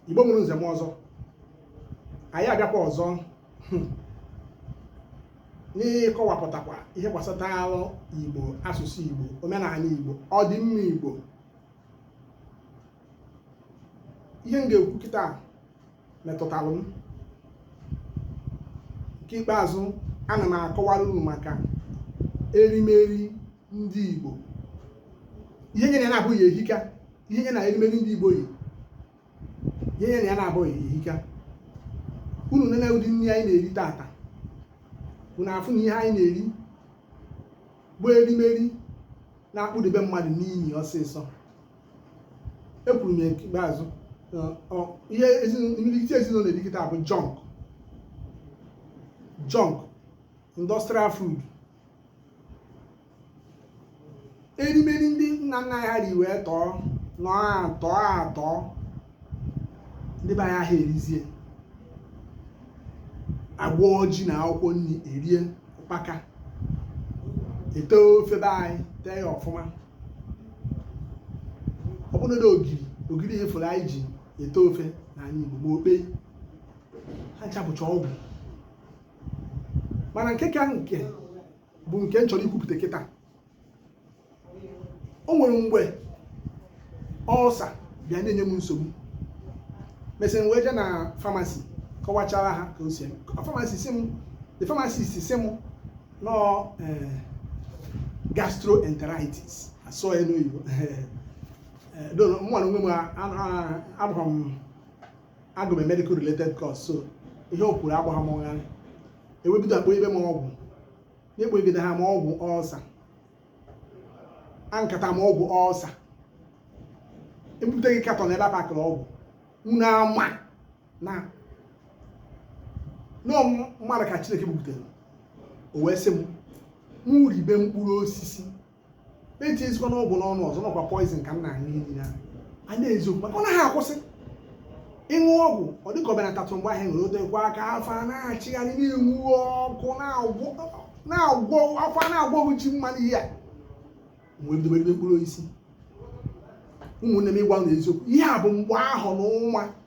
igbo mụrụ nze mụọ ọzọ anyị abịakwa ọzọ hmm, n'ịkọwapụtakwa ihe gbasataalụ igbo asụsụ igbo omenala igbo ọdịmma igbo ihe m ga-ekwu kịta metụtara m nke ikpeazụ ana m akọwara unu maka erimeri ndị Igbo ihe nye na ya na-abụghị ehika ihe nye na erimeri ndị Igbo yi ihe nye na ya na-abụghị ehika unu nene ụdị nri anyị na-eri taata unu afụ na ihe anyị na-eri bụ erimeri na-akpụdebe mmadụ n'inyi ọsịsọ ekwuru m ya ikpeazụ ihe imirikiti ezinụlọ na-eri kịta bụ junk junk industrial food erimeri ndị nna nna anyị ri wee tọọ nọ atọ atọ ndị be anyị aha erizi agwọọ ji na akwụkwọ nri erie ụkpaka ete ofe be anyị tee ya ọfụma ọ bụrụ na ogiri ogiri ihe afụ anyị ji ete ofe n'anị Igbo ma okpe ha ncha bụcha ọgwụ mana nke ka nke bụ nke m chọrọ ikwupụta kịta o nwere mgbe ọlsa bịa na-enye m nsogbu mesịa m wee jee na famasi kọwachaara ha ka o si eme famasi sị m the pharmacist sị m na ọ eh, gastroenteritis asụọ ya n'oyibo eh, eh, mụ na onwe m agụrụ m agụ m medical related course so ihe o kwuru agbaghị m gharịị e wee bido kpoibe m ọgwụ na-ekpogide ha m ọgwụ ọlsa aṅụkata m ọgwụ ọlsa e bupụta katọn ebe a pakịrị ọgwụ unu ama na ọ mmadụ ka chineke bubutere o wee sị m mụ ribe mkpụrụ osisi mụ etinyezikwana ọgwụ n'ọnụ ọzọ na ọ kwa poison ka m na-aṅụ iyi na a n'eziokwu maka ọ naghị akwụsị ịṅụ ọgwụ ọ dịka o benatatụ mgbe ahụ nwere o tekwa aka afọ a na-achịgharị na-enwu ọkụ na-agwọ afọ a na-agwọghị ji mmanụ ihe a mgbe m bidoro mkpụrụ osisi ụmụnne m ịgwa unu eziokwu ihe a bụ mgbe ahụ n'ọnwa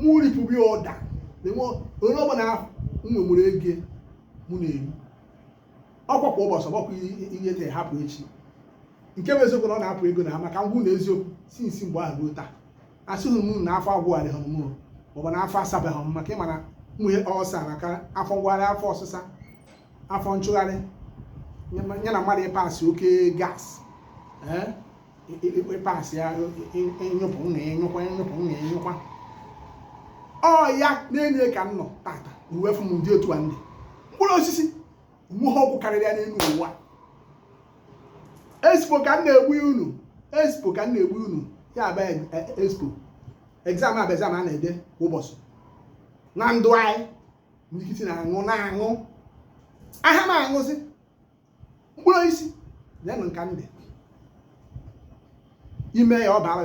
mụ ripụbi ọda na-enwe onye ọbụla ahụ m nwemụrụ ego mụ na-eri ọkwa kwa ụbọchị ọgbakwa rie taa hapụ echi nke bụ eziokwu na ọ na-efu ego mana ka m gwa unu eziokwu since mgbe ahụ ruo taa asịghị m na afọ agwụgharịbe m mụrụ maọbụ na afọ asabe m maka ị ma na onye ọlsa maka afọ ngwụgharị afọ ọsịsa afọ nchịgharị ya na mmadụ ịpasị oke gas ịpasị ya ịnyụpụ na ịnyụkwa ịnyụpụ na ịnyụkwa ọ ya na-enye ka m nọ tata na uwe fụ m ndị otu a ndị mkpụrụ osisi nweghị ọgwụ karịrị ya n'elu ụwa expo ka m na-egbu unu expo ka m na-egbu unu ya bụ e, e, expo exam bụ exam a na-ede kwa ụbọchị na ndụ anyị ndị nkịtị na-aṅụ na-aṅụ aha m aṅụzi mkpụrụ osisi nyenụ nka ndị ime ya ọ bara